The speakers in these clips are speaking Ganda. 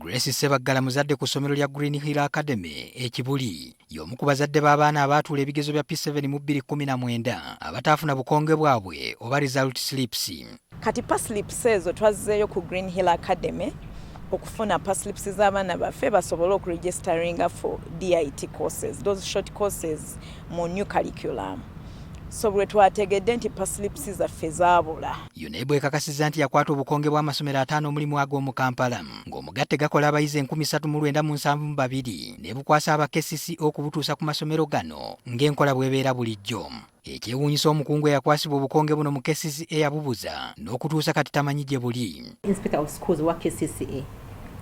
Grace Ssebaggala muzadde ku ssomero lya Green Hill Academy e Kibuli. Y'omu ku bazadde b'abaana abaatuula ebigezo bya P7 mu 2019 abataafuna bukonge bwabwe oba result slips. Kati paslips ezo twazzeeyo ku Green Hill Academy okufuna paslips z'abaana baffe basobole okuregisteringa for DIT courses, those short courses mu new curriculum. So bwe twategedde nti paslips zaffe zaabula. UNEB ekakasiza nti yakwata obukonge bw'amasomero ataano omulimu ago mu Kampala ng'omugatte gakola abayizi enkumi ssatu mu lwenda mu nsanvu mu babiri nebukwasa aba KCC okubutuusa ku masomero gano ng'enkola bwebeera bulijjo. Ekyewuunyisa omukungu eyakwasibwa obukonge buno mu KCC eyabubuza n'okutuusa kati tamanyi gye buli. Inspector of Schools wa KCCA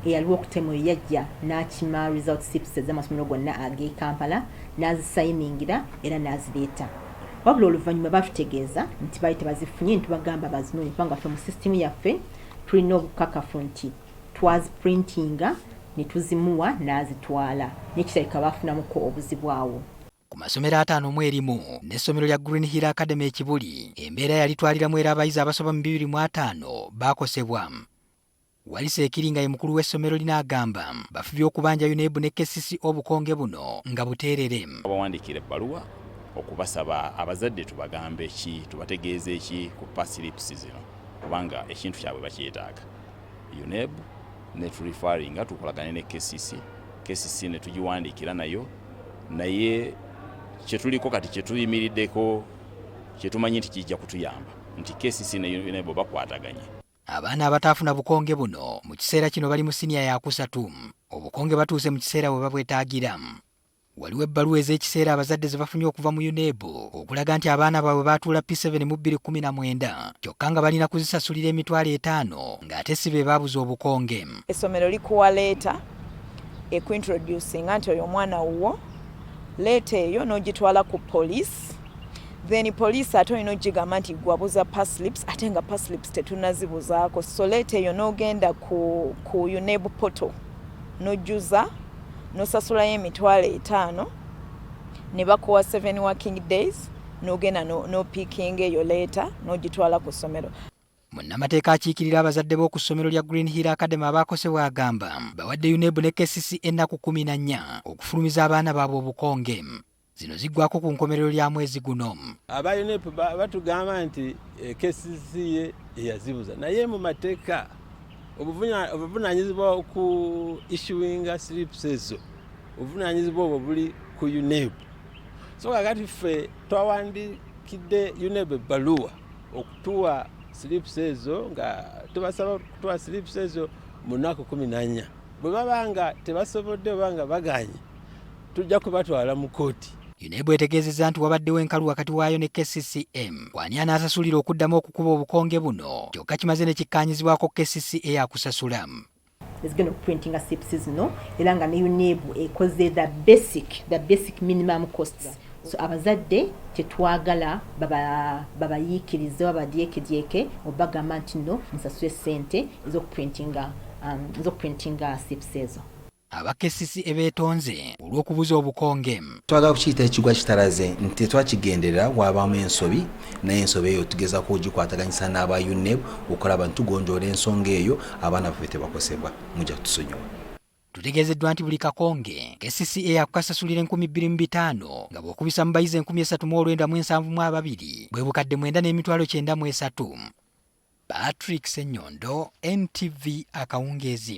eyaliwo okutema oyo yajja n'akima result sips ez'amasomero gonna ag'e Kampala n'azisayiningira era n'azireeta. wabula oluvannyuma batutegeeza nti baali tebazifunye ntubagamba bazinonye kubanga ffe mu sisitimu yaffe tulina obukakafu nti twaziprintinga ne tuzimuwa n'azitwala nekirabika baafunamuko obuzibu awo ku masomero ataano mu erimu n'essomero lya Green Hill Academy ekibuli embeera yalitwaliramu era abayizi abasoba mu bibiri mu ataano baakosebwa Walisa ekiri nga ye mukulu w'essomero lino agamba bafubye okubanja UNEB ne KCC obukonge buno nga buteerere. Abawandiikira ebbaluwa okubasaba abazadde tubagambe ki, tubategeeze ki ku pass slips zino kubanga ekintu kyabwe bakyetaaga. UNEB ne tu referringa tukolagane ne KCC, KCC ne tugiwandiikira nayo naye kye tuliko kati kye tuyimiriddeko kye tumanyi nti kijja kutuyamba nti KCC ne UNEB bakwataganye. Abaana abataafuna bukonge buno mu kiseera kino bali mu siniya yakusatu. Obukonge batuuse mu kiseera we babwetaagira. Waliwo ebbaluwa ez'ekiseera abazadde ze bafunye okuva mu UNEB okulaga nti abaana baabwe baatuula P7 mu 2019 kyokka nga balina kuzisasulira emitwalo etaano ng'ate si be baabuza obukonge. Essomero likuwa leeta ekuintroducinga nti oyo omwana wuwo. Leeta eyo n'ogitwala ku poliisi. then police ate olina ogigamba nti gwabuza paslips ate nga paslips tetunazibuzaako soleta eyo n'ogenda ku, ku uneb poto nojuza nosasulayo emitwalo etaano ne bakuwa seven working days nogenda nopikinga eyo leeta nogitwala ku ssomero munnamateeka akiikirira abazadde b'oku ssomero lya green hill academy abaakosebwa agamba bawadde unebu ne kcc ennaku kumi na nnya okufulumiza abaana baabwe obukonge zino ziggwako ku nkomerero lya mwezi guno. Aba UNEP batugamba nti eh, KCCA eyazibuza naye mu mateeka obuvunaanyizibwa ku issuinga slips ezo obuvunaanyizibwa obwo buli ku UNEB so kakati ffe twawandikidde UNEB ebbaluwa okutuwa slips ezo nga tubasaba okutuwa slips ezo mu nnaku kumi nanya bwe baba nga tebasobodde oba nga baganye tujja kubatwala mu kkooti. UNEB etegeezezza nti wabaddewo enkalu wakati waayo ne KCCM kwani anaasasulira okuddamu okukuba obukonge buno kyokka kimaze ne kikkaanyizibwako KCCA akusasula ezigenda okuprintinga sips zino era nga ne UNEB ekoze the basic the basic minimum costs so abazadde tetwagala babayiikirize baba babadyekedyeke obagamba nti no musasule sente ezokuprintinga um, ezokuprintinga sips ezo aba KCC ebeetonze olw'okubuza obukonge. Twagala kukiyita ekigwa kitalaze nti tetwakigenderera waabaamu ensobi naye ensobi eyo tugezaako ogikwataganyisa n'aba UNEB okulaba nti tugonjoola ensonga eyo abaana baffe tebakosebwa mujja kutusonyiwa. Tutegeezeddwa nti buli kakonge KCC eyakukasasulira enkumi bbiri mu bitaano nga bw'okubisa mu bayizi enkumi esatu mu olwenda mu ensanvu mu ababiri bwe bukadde mwenda n'emitwalo kyenda mu esatu. Patrick Senyondo, NTV Akawungeezi.